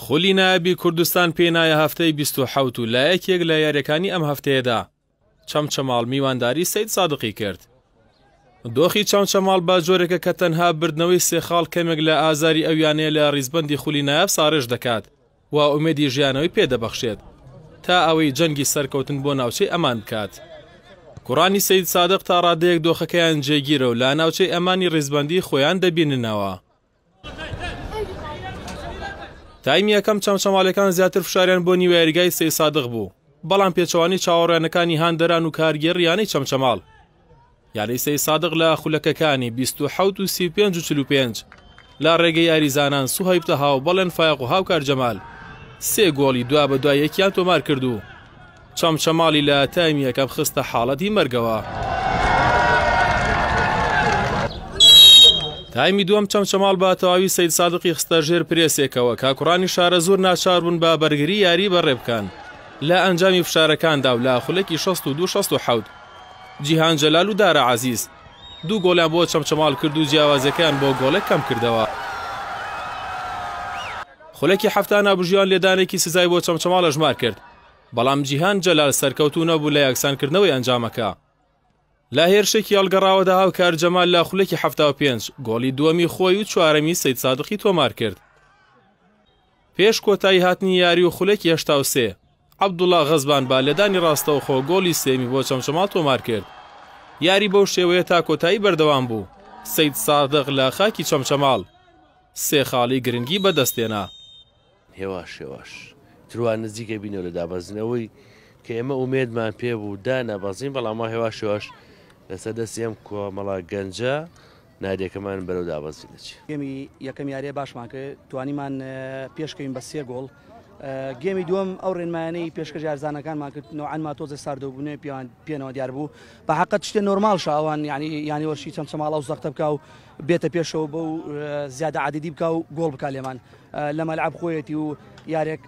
خولی نایابی کوردستان پێی نایە هەفتەی بیست و حەوت و لە یەکێک لە یاریەکانی ئەم هەفتەیەدا چەمچەماڵ میوانداری سەید سادقی کرد. دۆخی چەمچەماڵ بە جۆرێکە کە تەنها بردنەوەی سێخاڵ کەمێک لە ئازاری ئەویانەیە لە ریزبەندی خولی نایاب ساڕێژ دەکات. و ئومێدی ژیانەوەی پێ دەبەخشێت تا ئەوەی جەنگی سەرکەوتن بۆ ناوچەی ئەمان بکات. کوڕانی سەیدسادق تا ڕادەیەک دۆخەکەیان جێگیرە و لا ناوچەی ئەمانی ڕیزبەندیی خۆیان دەبیننەوە. تایمی یەکەم چەمچەماڵەکان زیاتر فشاریان بۆ نیوەیاریگای سەیدسادق بوو، بەڵام پێچەوانەی چاوەڕوانەکانی هاندەران و کارگێڕییانەی چەمچەماڵ، یاری سەی سادق لە خولەکەکانی بیست و حەوت و سی و پێنج و چل و پێنج لە ڕێگەی یاریزانان سوهەیب تەها و بەڵێن فایەق و هاوکار جەمال سێ گۆڵی دوا بە دوای یەکیان تۆمار کرد و چەمچەماڵی لە تایمی یەکەم خستە حاڵەتی مەرگەوە. تایمی دووەم چەمچەماڵ بە تەواوی سید سادقی خستە ژێر پرێسێکەوە کاکوڕانی شارە زۆر ناچار بوون بە بەرگری یاری بەڕێ بکەن لە ئەنجامی فشارەکاندا و لە خولەکی 16 و 1970 جیهان جەلال و دارا عەزیز دوو گۆڵیان بۆ چەمچەماڵ کرد و جیاوازیەکەیان بۆ گۆڵێک کەمکردەوە. خولەکی حەفتا نابژیوان لێدانێکی سزای بۆ چەمچەماڵ ئەژمار کرد، بەڵام جیهان جەلال سەرکەوتوو نەبوو لە یەکسانکردنەوەی ئەنجامەکە. لە هێرشێکی هەڵگەڕاوەدا هاوکار جەمال لە خولەکی حەفتا و پێنج گۆڵی دووەمی خۆی و چوارەمی سەیدسادقی تۆمارکرد. پێش کۆتایی هاتنی یاری و خولەکی هەشتا و سێ، عەبدوڵا غەزبان بە لێدانی ڕاستەوخۆ گۆڵی سێیەمی بۆ چەمچەماڵ تۆمارکرد. یاری بەو شێوەیە تا کۆتایی بەردەوام بوو، سەید سادق لە خاکی چەمچەماڵ سێ خاڵی گرنگی بەدەستهێنا. هێواش هێواش تروان نزیک ئەبینەوە لە دابەزینەوەی کە ئێمە ئومێدمان پێبوو دانەبەزین، بەڵام وا هێواش هێواش لەسەر دەستی ئەم کۆمەڵە گەنجە نادێکەمان بەرەو دابەزین دەچێت. گێمی یەکەم یاریە باشمان کرد توانیمان پێشکەین بە سێ گۆڵ گێمی دووەم ئەو ڕێنمایانەی پێشکەش یارزانەکانمان کرد نوعانما تۆزە ساردەبوونێ پیان پێنەوە دیار بوو بە حقت شتێ نۆرمال شاوان ینی ینی وەشی چەم چەماڵا و زەختە بکە و بێتە پێشەوە بە و زیادە عادیدی بکە و گۆڵ بک لێمان لە مەلعب خۆیەتی و یارێک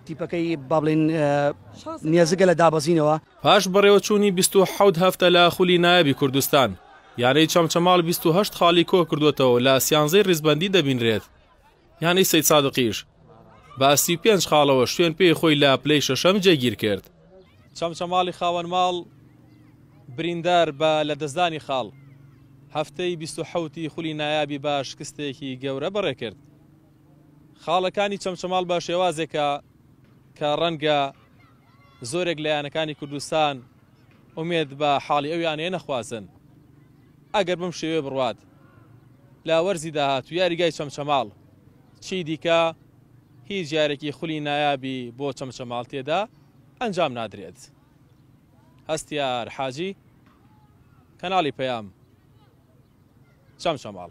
تیپەکەی بابلین نێزگە لە دابەزینەوە پاش بەڕێوەچوونی بیست و حەوت هەفتە لە خولی نایابی کوردستان، یانەی چەمچەماڵ بیست و هەشت خاڵی کۆکردووەتەوە و لە سیانزەی ڕیزبەندی دەبینرێت، یانەی سەیدسادقیش بە سی و پێنج خاڵەوە شوێن پێی خۆی لە پلەی شەشەم جێگیرکرد. چەمچەماڵی خاوەن ماڵ بریندار بە لەدەستدانی خاڵ، هەفتەی بیست و حەوتی خولی نایابی بە شکستێکی گەورە بەڕێکرد. خاڵەکانی چەمچەماڵ بە شێوازێکە کە ڕەنگە زۆرێک لە یانەکانی کوردستان ئومێد بە حاڵی ئەو یانەیە نەخوازن، ئەگەر بەم شێوەیە بڕوات لە وەرزی داهاتوو یاریگای چەمچەماڵ چیدیکە هیچ یارێکی خولی نایابی بۆ چەمچەماڵ تێدا ئەنجام نادرێت. هەستیار حاجی، کەناڵی پەیام، چەمچەماڵ.